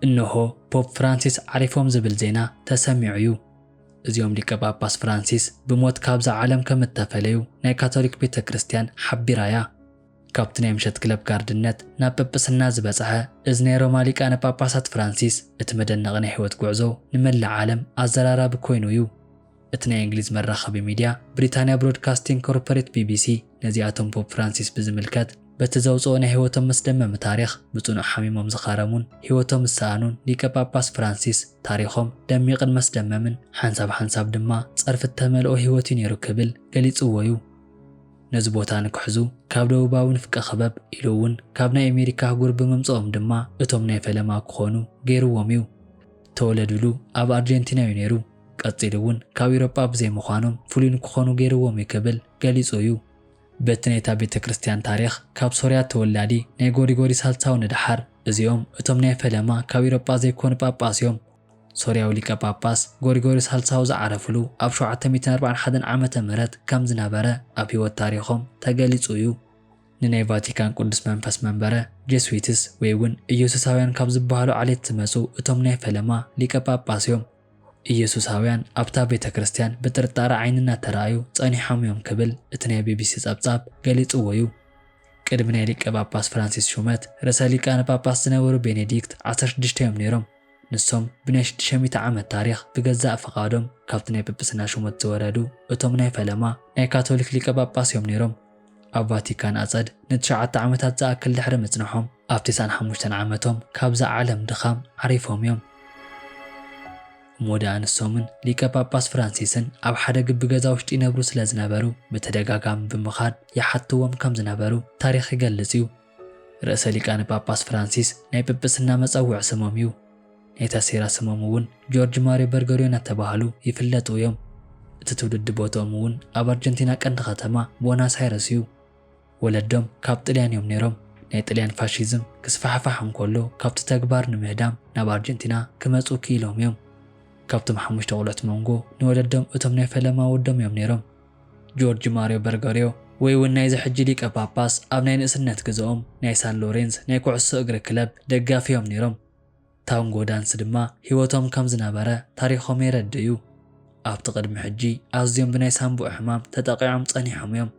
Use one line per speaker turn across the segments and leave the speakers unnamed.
እነሆ ፖፕ ፍራንሲስ ዓሪፎም ዝብል ዜና ተሰሚዑ እዩ። እዚኦም ሊቀ ጳጳስ ፍራንሲስ ብሞት ካብዛ ዓለም ከም እተፈለዩ ናይ ካቶሊክ ቤተ ክርስቲያን ሓቢራ እያ። ካብቲ ናይ ምሸት ክለብ ጋርድነት ናብ ጵጵስና ዝበጽሐ እዚ ናይ ሮማ ሊቃነ ጳጳሳት ፍራንሲስ እቲ መደነቒ ናይ ሕይወት ጉዕዞ ንመላእ ዓለም ኣዘራራቢ ኮይኑ እዩ። እቲ ናይ እንግሊዝ መራኸቢ ሚድያ ብሪታንያ ብሮድካስቲንግ ኮርፖሬት፣ ቢቢሲ፣ ነዚኣቶም ፖፕ ፍራንሲስ ብዝምልከት በቲ ዘውጽኦ ናይ ህይወቶም መስደመሚ ታሪኽ ብጽኑዕ ሓሚሞም ዝኻረሙን ህይወቶም ዝሰኣኑን ሊቀ ጳጳስ ፍራንሲስ ታሪኾም ደሚቕን መስደመምን ሓንሳብ ሓንሳብ ድማ ጸርፊ እተመልኦ ህይወት'ዩ ነይሩ ክብል ገሊጽዎ'ዩ። ነዚ ቦታ ንክሕዙ ካብ ደቡባዊ ንፍቀ ክበብ ኢሉ'ውን ካብ ናይ ኣሜሪካ ኣህጉር ብምምጽኦም ድማ እቶም ናይ ፈለማ ክኾኑ ገይርዎም'ዩ። ተወለዱሉ ኣብ ኣርጀንቲና'ዩ ነይሩ። ቀጺሉ እውን ካብ ኢሮጳ ብዘይ ምዃኖም ፍሉይ ንክኾኑ ገይርዎም እዩ ክብል ገሊጹ እዩ። በቲ ናይታ ቤተ ክርስቲያን ታሪኽ ካብ ሶርያ ተወላዲ ናይ ጎሪጎሪ ሳልሳዊ ንደሓር እዚኦም እቶም ናይ ፈለማ ካብ ኢሮጳ ዘይኮኑ ጳጳስ እዮም። ሶርያዊ ሊቀ ጳጳስ ጎሪጎሪ ሳልሳዊ ዝዓረፍሉ ኣብ ሸውዓተ ሚእትን ኣርባዓን ሓደን ዓመተ ምህረት ከም ዝነበረ ኣብ ሕይወት ታሪኾም ተገሊጹ እዩ። ንናይ ቫቲካን ቅዱስ መንፈስ መንበረ ጀስዊትስ ወይ እውን ኢየሱሳውያን ካብ ዝበሃሉ ዓሌት ዝመጹ እቶም ናይ ፈለማ ሊቀ ጳጳስ እዮም። ኢየሱሳውያን ኣብታ ቤተ ክርስቲያን ብጥርጣረ ዓይኒ እናተራእዩ ጸኒሖም እዮም ክብል እቲ ናይ ቢቢሲ ጸብጻብ ገሊጽዎ እዩ። ቅድሚ ናይ ሊቀ ጳጳስ ፍራንሲስ ሹመት፣ ርእሰ ሊቃነ ጳጳስ ዝነበሩ ቤኔዲክት ዓሰርተ ሽዱሽተ እዮም ነይሮም። ንሶም ብናይ ሽዱሽተ ሚእቲ ዓመት ታሪኽ ብገዛእ ፍቓዶም ካብቲ ናይ ጵጵስና ሹመት ዝወረዱ እቶም ናይ ፈለማ ናይ ካቶሊክ ሊቀ ጳጳስ እዮም ነይሮም። ኣብ ቫቲካን ኣጸድ ንትሽዓተ ዓመታት ዝኣክል ድሕሪ ምጽንሖም፣ ኣብ ተስዓን ሓሙሽተን ዓመቶም ካብዛ ዓለም ድኻም ዓሪፎም እዮም። እሞ ደኣ ንሶምን ሊቀ ጳጳስ ፍራንሲስን ኣብ ሓደ ግቢ ገዛ ውሽጢ ይነብሩ ስለ ዝነበሩ ብተደጋጋሚ ብምኻድ ይሓትዎም ከም ዝነበሩ ታሪኽ ይገልጽ እዩ። ርእሰ ሊቃነ ጳጳስ ፍራንሲስ ናይ ጵጵስና መጸውዒ ስሞም እዩ። ናይ ታሴራ ስሞም እውን ጆርጅ ማርዮ በርገርዮ እናተባህሉ ይፍለጡ እዮም። እቲ ትውልዲ ቦትኦም እውን ኣብ ኣርጀንቲና ቀንዲ ከተማ ቦናስ ኣይረስ እዩ። ወለዶም ካብ ጥልያን እዮም ነይሮም። ናይ ጥልያን ፋሺዝም ክስፋሕፋሕ እንከሎ ካብቲ ተግባር ንምህዳም ናብ ኣርጀንቲና ክመጹ ክኢሎም እዮም። ካብቶም ሓሙሽተ ቆልዑት መንጎ ንወለዶም እቶም ናይ ፈለማ ወዶም እዮም ነይሮም። ጆርጅ ማርዮ በርገርዮ ወይ እውን ናይዚ ሕጂ ሊቀ ጳጳስ ኣብ ናይ ንእስነት ግዘኦም ናይ ሳን ሎሬንዝ ናይ ኩዕሶ እግሪ ክለብ ደጋፊ እዮም ነይሮም። ታንጎ ዳንስ ድማ ህይወቶም ከም ዝነበረ ታሪኾም የረድእ እዩ። ኣብቲ ቅድሚ ሕጂ ኣዝዮም ብናይ ሳንቡእ ሕማም ተጠቒዖም ጸኒሖም እዮም።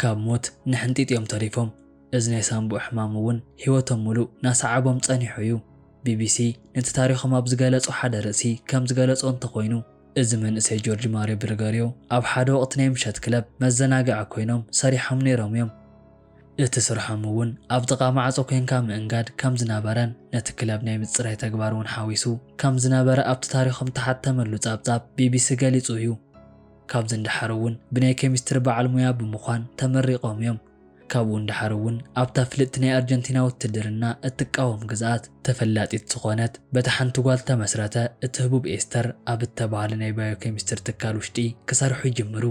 ካብ ሞት ንሕንጢጥ እዮም ተሪፎም። እዚ ናይ ሳንቡእ ሕማም እውን ህይወቶም ምሉእ ናሰዓቦም ጸኒሑ እዩ። ቢቢሲ ነቲ ታሪኾም ኣብ ዝገለጾ ሓደ ርእሲ ከም ዝገለጾ እንተኾይኑ፣ እዚ መንእሰይ ጆርጅ ማርዮ ብርገርዮ ኣብ ሓደ ወቕቲ ናይ ምሸት ክለብ መዘናግዒ ኮይኖም ሰሪሖም ነይሮም እዮም። እቲ ስርሖም እውን ኣብ ጥቓ ማዕጾ ኮይንካ ምእንጋድ ከም ዝነበረን ነቲ ክለብ ናይ ምጽራይ ተግባር እውን ሓዊሱ ከም ዝነበረ ኣብቲ ታሪኾም እተሓተመሉ ጸብጻብ ቢቢሲ ገሊጹ እዩ። ካብዚ ንደሓር እውን ብናይ ኬሚስትሪ በዓል ሙያ ብምዃን ተመሪቖም እዮም። ካብኡ ንደሓር እውን ኣብታ ፍልጥቲ ናይ ኣርጀንቲና ውትድርና እትቃወም ግዝኣት ተፈላጢት ዝኾነት በታ ሓንቲ ጓል ተመስረተ። እቲ ህቡብ ኤስተር ኣብ እተባህለ ናይ ባዮኬሚስትሪ ትካል ውሽጢ ክሰርሑ ይጅምሩ።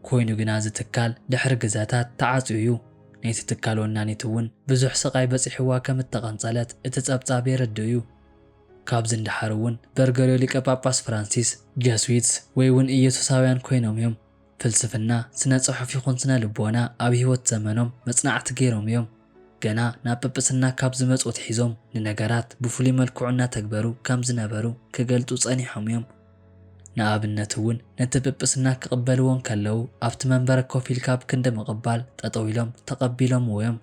ኮይኑ ግና እዚ ትካል ድሕሪ ግዘታት ተዓጽዩ እዩ። ናይቲ ትካል ወናኒት እውን ብዙሕ ስቓይ በጺሕዋ ከም እተቐንጸለት እቲ ጸብጻብ የረድእ እዩ። ካብዚ ንደሓር እውን በርገርዮ ሊቀ ጳጳስ ፍራንሲስ፣ ጀስዊትስ ወይ እውን ኢየሱሳውያን ኮይኖም እዮም። ፍልስፍና፣ ስነ ጽሑፍ ይኹን ስነ ልቦና ኣብ ሕይወት ዘመኖም መጽናዕቲ ገይሮም እዮም። ገና ናብ ጵጵስና ካብ ዝመጹ ኣትሒዞም ንነገራት ብፍሉይ መልክዑ እናተግበሩ ከም ዝነበሩ ክገልጹ ጸኒሖም እዮም። ንኣብነት እውን ነቲ ጵጵስና ክቕበልዎ እንከለዉ ኣብቲ መንበረ ኮፍ ኢልካ ኣብ ክንዲ ምቕባል ጠጠው ኢሎም ተቐቢሎምዎ እዮም።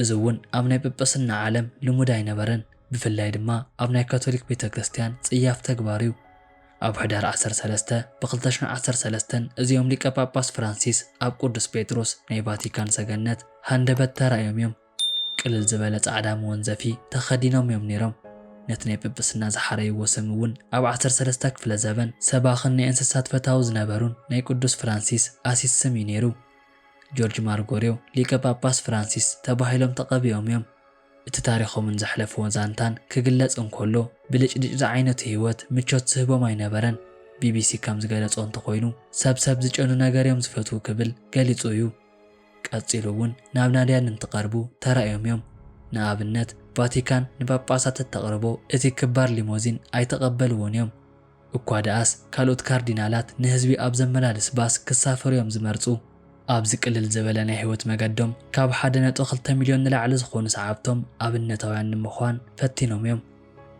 እዚ እውን ኣብ ናይ ጵጵስና ዓለም ልሙድ ኣይነበረን። ብፍላይ ድማ ኣብ ናይ ካቶሊክ ቤተ ክርስቲያን ጽያፍ ተግባር እዩ። ኣብ ሕዳር ዓሰርተ ሰለስተ ብ ክልተ ሽሕ ዓሰርተ ሰለስተ እዚኦም ሊቀ ጳጳስ ፍራንሲስ ኣብ ቅዱስ ጴጥሮስ ናይ ቫቲካን ሰገነት ሃንደበት ተራእዮም እዮም። ቅልል ዝበለ ጻዕዳ መወንዘፊ ተኸዲኖም እዮም ነይሮም። ነቲ ናይ ጵጵስና ዝሓረይዎ ስም እውን ኣብ ዓሰርተ ሰለስተ ክፍለ ዘበን ሰባኽን ናይ እንስሳት ፈታዊ ዝነበሩን ናይ ቅዱስ ፍራንሲስ ኣሲስ ስም እዩ ነይሩ። ጆርጅ ማርጎርዮ ሊቀ ጳጳስ ፍራንሲስ ተባሂሎም ተቐቢኦም እዮም። እቲ ታሪኾምን ዘሕለፍዎ ዛንታን ክግለጽ እንከሎ፣ ብልጭልጭ ዝዓይነቱ ህይወት ምቾት ዝህቦም ኣይነበረን። ቢቢሲ ከም ዝገለጾ እንተኾይኑ፣ ሰብ ሰብ ዝጨኑ ነገር'ዮም ዝፈትዉ ክብል ገሊጹ እዩ። ቀጺሉ'ውን ናብ ናድያን እንትቐርቡ ተራእዮም'ዮም። ንኣብነት፣ ቫቲካን ንጳጳሳት እተቕርቦ እቲ ክባር ሊሞዚን ኣይተቐበልዎን'ዮም። እኳ ደኣስ ካልኦት ካርዲናላት ንህዝቢ ኣብ ዘመላልስ ባስ ክሳፈሩ'ዮም ዝመርጹ። ኣብዚ ቅልል ዝበለ ናይ ህይወት መገዶም ካብ ሓደ ነጥቢ ክልተ ሚልዮን ንላዕሊ ዝኾኑ ሰዓብቶም ኣብነታውያን ንምዃን ፈቲኖም'ዮም።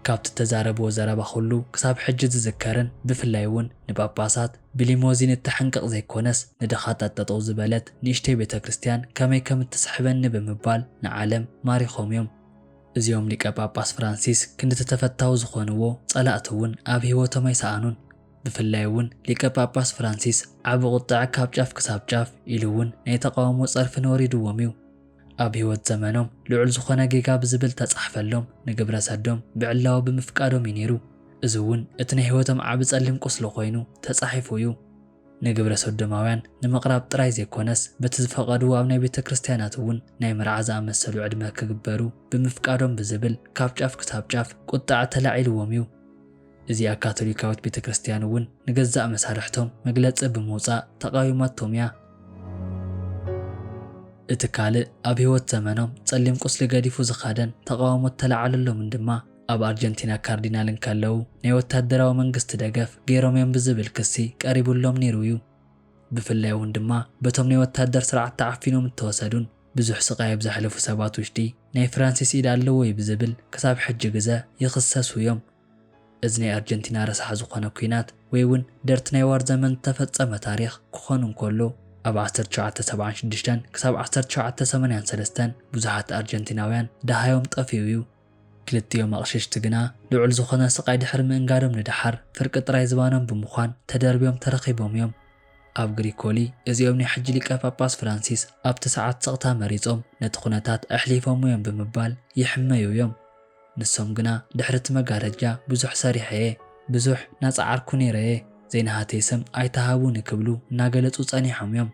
ካብቲ እተዛረብዎ ዘረባ ኩሉ ክሳብ ሕጂ ዝዝከርን ብፍላይ'ውን ንጳጳሳት ብሊሞዚን እተሕንቅቕ ዘይኮነስ ንድኻታት ጠጠው ዝበለት ንእሽተይ ቤተክርስትያን ከመይ ከም እትስሕበኒ ብምባል ንዓለም ማሪኾም'ዮም። እዚኦም ሊቀ ጳጳስ ፍራንሲስ ክንድቲ ተፈታዊ ዝኾንዎ ጸላእቲ እውን ኣብ ሕይወቶም ኣይሰኣኑን። ብፍላይ እውን ሊቀ ጳጳስ ፍራንሲስ ዓቢ ቁጥዐ ካብ ጫፍ ክሳብ ጫፍ ኢሉ እውን ናይ ተቓውሞ ጸርፊ ነወሪድዎም እዩ። ኣብ ሕይወት ዘመኖም ልዑል ዝኾነ ጌጋ ብዝብል ተጻሕፈሎም ንግብረ ሰዶም ብዕላዊ ብምፍቃዶም እዩ ነይሩ። እዚ እውን እቲ ናይ ሕይወቶም ዓቢ ጸሊም ቁስሊ ኮይኑ ተጻሒፉ እዩ። ንግብረ ሶዶማውያን ንምቕራብ ጥራይ ዘይኮነስ በቲ ዝፈቐድዎ ኣብ ናይ ቤተ ክርስቲያናት እውን ናይ መርዓ ዝኣመሰሉ ዕድመ ክግበሩ ብምፍቃዶም ብዝብል ካብ ጫፍ ክሳብ ጫፍ ቁጥዐ ተላዒልዎም እዩ። እዚኣ ካቶሊካዊት ቤተ ክርስቲያን እውን ንገዛእ መሳርሕቶም መግለጺ ብምውጻእ ተቓዊማቶም እያ። እቲ ካልእ ኣብ ሕይወት ዘመኖም ጸሊም ቁስሊ ገዲፉ ዝኸደን ተቓውሞ እተለዓለሎምን ድማ፣ ኣብ ኣርጀንቲና ካርዲናል እንከለዉ ናይ ወታደራዊ መንግስቲ ደገፍ ገይሮም እዮም ብዝብል ክሲ ቀሪቡሎም ነይሩ እዩ። ብፍላይ እውን ድማ በቶም ናይ ወታደር ስርዓት ተዓፊኖም እተወሰዱን ብዙሕ ስቓይ ኣብ ዘሕለፉ ሰባት ውሽጢ ናይ ፍራንሲስ ኢድ ኣለዎ እዩ ብዝብል ክሳብ ሕጂ ግዘ ይኽሰሱ እዮም። እዚ ናይ ኣርጀንቲና ረሳሕ ዝኾነ ኲናት ወይ እውን ደርት ናይ ዋር ዘመን ዝተፈፀመ ታሪኽ ክኾን እንከሎ ኣብ ዓሰርተ ትሽዓተ ሰብዓን ሽዱሽተን ክሳብ ዓሰርተ ትሽዓተ ሰማንያን ሰለስተን ብዙሓት ኣርጀንቲናውያን ደሃዮም ጠፊኡ እዩ። ክልቲኦም ኣቕሽሽቲ ግና ልዑል ዝኾነ ስቓይ ድሕሪ ምእንጋዶም ንደሓር ፍርቂ ጥራይ ዝባኖም ብምዃን ተደርብዮም ተረኺቦም እዮም። ኣብ ግሪኮሊ እዚኦም ናይ ሕጂ ሊቀ ጳጳስ ፍራንሲስ ኣብቲ ሰዓት ስቕታ መሪጾም ነቲ ኩነታት ኣሕሊፎሞ እዮም ብምባል ይሕመዩ እዮም። ንሶም ግና ድሕሪ እቲ መጋረጃ ብዙሕ ሰሪሐ እየ፣ ብዙሕ እናጸዓርኩ ነይረ እየ፣ ዘይናሃተይ ስም ኣይትሃቡኒ ክብሉ እናገለጹ ጸኒሖም እዮም።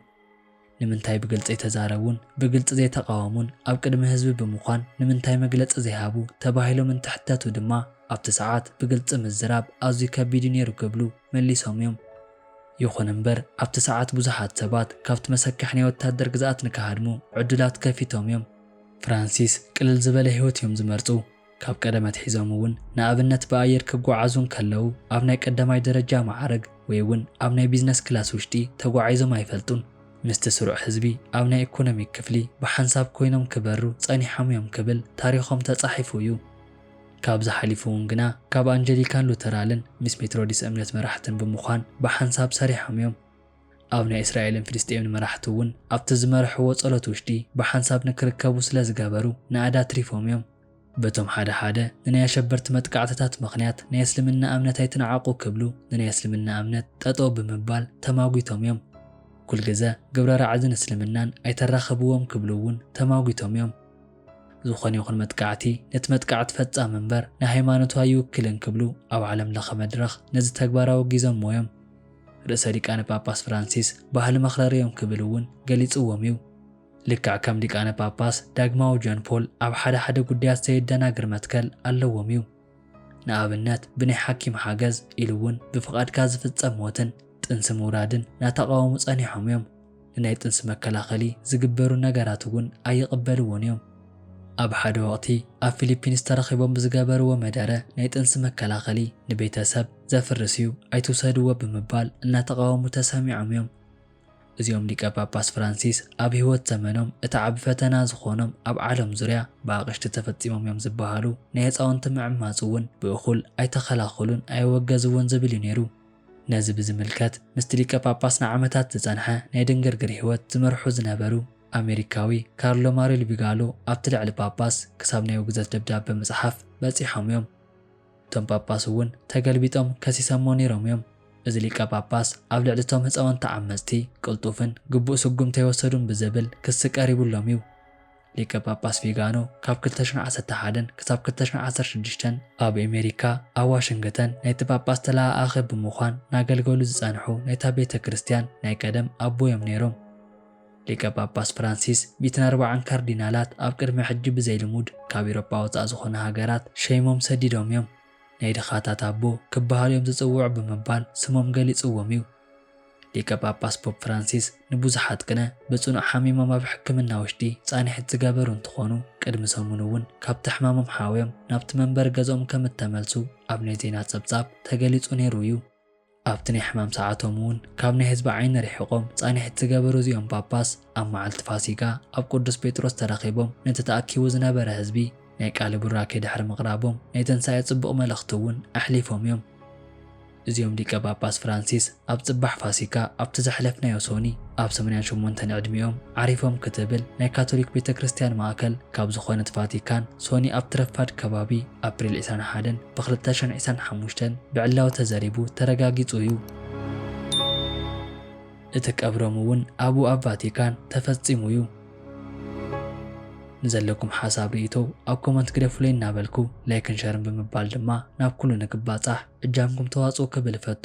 ንምንታይ ብግልጺ ኣይተዛረቡን? ብግልጺ ዘይተቓወሙን ኣብ ቅድሚ ህዝቢ ብምኳን ንምንታይ መግለጺ ዘይሃቡ? ተባሂሎም እንትሕተቱ ድማ ኣብቲ ሰዓት ብግልጺ ምዝራብ ኣዝዩ ከቢድ'ዩ ነይሩ ክብሉ መሊሶም'ዮም። ይኹን እምበር ኣብቲ ሰዓት ብዙሓት ሰባት ካብቲ መሰከሒ ናይ ወታደር ግዝኣት ንክሃድሙ ዕዱላት ከፊቶም'ዮም። ፍራንሲስ ቅልል ዝበለ ህይወት'ዮም ዝመርጹ። ካብ ቀደም ኣትሒዞም እውን ንኣብነት ብኣየር ክጓዓዙ እንከለዉ ኣብ ናይ ቀዳማይ ደረጃ መዓርግ ወይ እውን ኣብ ናይ ቢዝነስ ክላስ ውሽጢ ተጓዒዞም ኣይፈልጡን። ምስቲ ስሩዕ ህዝቢ ኣብ ናይ ኢኮኖሚክ ክፍሊ ብሓንሳብ ኮይኖም ክበሩ ፀኒሖም እዮም ክብል ታሪኾም ተፃሒፉ እዩ። ካብዚ ሓሊፉ እውን ግና ካብ ኣንጀሊካን ሉተራልን ሚስ ሜትሮዲስ እምነት መራሕትን ብምዃን ብሓንሳብ ሰሪሖም እዮም። ኣብ ናይ እስራኤልን ፍልስጤምን መራሕቲ እውን ኣብቲ ዝመርሕዎ ጸሎት ውሽጢ ብሓንሳብ ንክርከቡ ስለ ዝገበሩ ናእዳ ኣትሪፎም እዮም። በቶም ሓደ ሓደ ንናይ ኣሸበርቲ መጥቃዕትታት ምኽንያት ናይ እስልምና እምነት ኣይትንዓቁ ክብሉ ንናይ እስልምና እምነት ጠጠው ብምባል ተማጒቶም እዮም። ኩልግዘ ግብረ ራዕድን እስልምናን ኣይተራኽብዎም ክብሉ እውን ተማጒቶም እዮም። ዝኾነ ይኹን መጥቃዕቲ ነቲ መጥቃዕቲ ፈጻሚ እምበር ንሃይማኖቱ ኣይውክልን ክብሉ ኣብ ዓለም ለኸ መድረኽ ነዚ ተግባር ኣወጊዞምዎ እዮም። ርእሰ ሊቃነ ጳጳስ ፍራንሲስ ባህሊ መኽረሪ እዮም ክብል እውን ገሊጽዎም እዩ። ልክዕ ከም ሊቃነ ጳጳስ ዳግማዊ ጆን ፖል ኣብ ሓደ ሓደ ጉዳያት ዘየደናግር መትከል ኣለዎም እዩ። ንኣብነት ብናይ ሓኪም ሓገዝ ኢሉ እውን ብፍቓድካ ዝፍፀም ሞትን ጥንሲ ምውራድን ናተቓወሙ ፀኒሖም እዮም። ንናይ ጥንሲ መከላኸሊ ዝግበሩ ነገራት እውን ኣይቕበልዎን እዮም። ኣብ ሓደ ወቕቲ ኣብ ፊሊፒንስ ተረኺቦም ብዝገበርዎ መደረ ናይ ጥንሲ መከላኸሊ ንቤተሰብ ዘፍርስ እዩ ኣይትውሰድዎ ብምባል እናተቓወሙ ተሰሚዖም እዮም። እዚኦም ሊቀ ጳጳስ ፍራንሲስ ኣብ ሕይወት ዘመኖም እቲ ዓቢ ፈተና ዝኾኖም ኣብ ዓለም ዙርያ ብኣቕሽቲ ተፈጺሞም እዮም ዝበሃሉ ናይ ህጻውንቲ ምዕማጽ እውን ብእኹል ኣይተኸላኸሉን ኣየወገዝዎን ዝብል እዩ ነይሩ። ነዚ ብዝምልከት ምስቲ ሊቀ ጳጳስ ንዓመታት ዝጸንሐ ናይ ድንግርግር ሕይወት ዝመርሑ ዝነበሩ ኣሜሪካዊ ካርሎ ማሪል ቪጋሎ ኣብቲ ልዕሊ ጳጳስ ክሳብ ናይ ውግዘት ደብዳበ ምጽሓፍ በጺሖም እዮም። እቶም ጳጳስ እውን ተገልቢጦም ከሲሰሞ ነይሮም እዮም። እዚ ሊቀ ጳጳስ ኣብ ልዕሊ እቶም ህፃውንቲ ዓመፅቲ ቅልጡፍን ግቡእ ስጉምቲ ኣይወሰዱን ብዝብል ክሲ ቀሪቡሎም እዩ። ሊቀ ጳጳስ ቪጋኖ ካብ ክልተ ሽሕን ዓሰርተ ሓደን ክሳብ ክልተ ሽሕን ዓሰርተ ሽዱሽተን ኣብ ኤሜሪካ ኣብ ዋሽንግተን ናይቲ ጳጳስ ተለኣኣኺ ብምዃን ናገልገሉ ዝፀንሑ ናይታ ቤተ ክርስቲያን ናይ ቀደም ኣቦ እዮም ነይሮም። ሊቀ ጳጳስ ፍራንሲስ ሚእትን ኣርባዓን ካርዲናላት ኣብ ቅድሚ ሕጂ ብዘይልሙድ ካብ ኤውሮጳ ወጻእ ዝኾና ሃገራት ሸይሞም ሰዲዶም እዮም። ናይ ድኻታት ኣቦ ክበሃሉ እዮም ዝጽውዑ ብምባል ስሞም ገሊጽዎም እዩ። ሊቀ ጳጳስ ፖፕ ፍራንሲስ ንብዙሓት ቅነ ብጽኑዕ ሓሚሞም ኣብ ሕክምና ውሽጢ ጻንሒት ዝገበሩ እንትኾኑ ቅድሚ ሰሙን እውን ካብቲ ሕማሞም ሓውዮም ናብቲ መንበሪ ገዝኦም ከም እተመልሱ ኣብ ናይ ዜና ጸብጻብ ተገሊጹ ነይሩ እዩ። ኣብቲ ናይ ሕማም ሰዓቶም እውን ካብ ናይ ህዝቢ ዓይኒ ርሒቖም ፃንሒት ዝገበሩ እዚኦም ጳጳስ ኣብ መዓልቲ ፋሲጋ ኣብ ቅዱስ ጴጥሮስ ተረኺቦም ነቲ ተኣኪቡ ዝነበረ ህዝቢ ናይ ቃለ ቡራኬ ድሕሪ ምቕራቦም ናይ ትንሣኤ ጽቡቕ መልእኽቲ እውን ኣሕሊፎም እዮም። እዚኦም ሊቀ ጳጳስ ፍራንሲስ ኣብ ጽባሕ ፋሲካ ኣብቲ ዘሕለፍናዮ ሶኒ ኣብ ሰማንያን ሸሞንተን ዕድሚኦም ዓሪፎም ክትብል ናይ ካቶሊክ ቤተ ክርስቲያን ማእከል ካብ ዝኾነት ቫቲካን ሶኒ ኣብቲ ረፋድ ከባቢ ኣፕሪል ዕስራን ሓደን ብክልተ ሽሕን ዒስራን ሓሙሽተን ብዕላዊ ተዘሪቡ ተረጋጊጹ እዩ። እቲ ቀብሮም እውን ኣብኡ ኣብ ቫቲካን ተፈጺሙ እዩ። ንዘለኩም ሓሳብ ርእይቶ ኣብ ኮመንት ግደፉለይ እናበልኩ ላይክን ሸርን ብምባል ድማ ናብ ኩሉ ንክባጻሕ እጃምኩም ተዋጽኡ ክብል እፈቱ።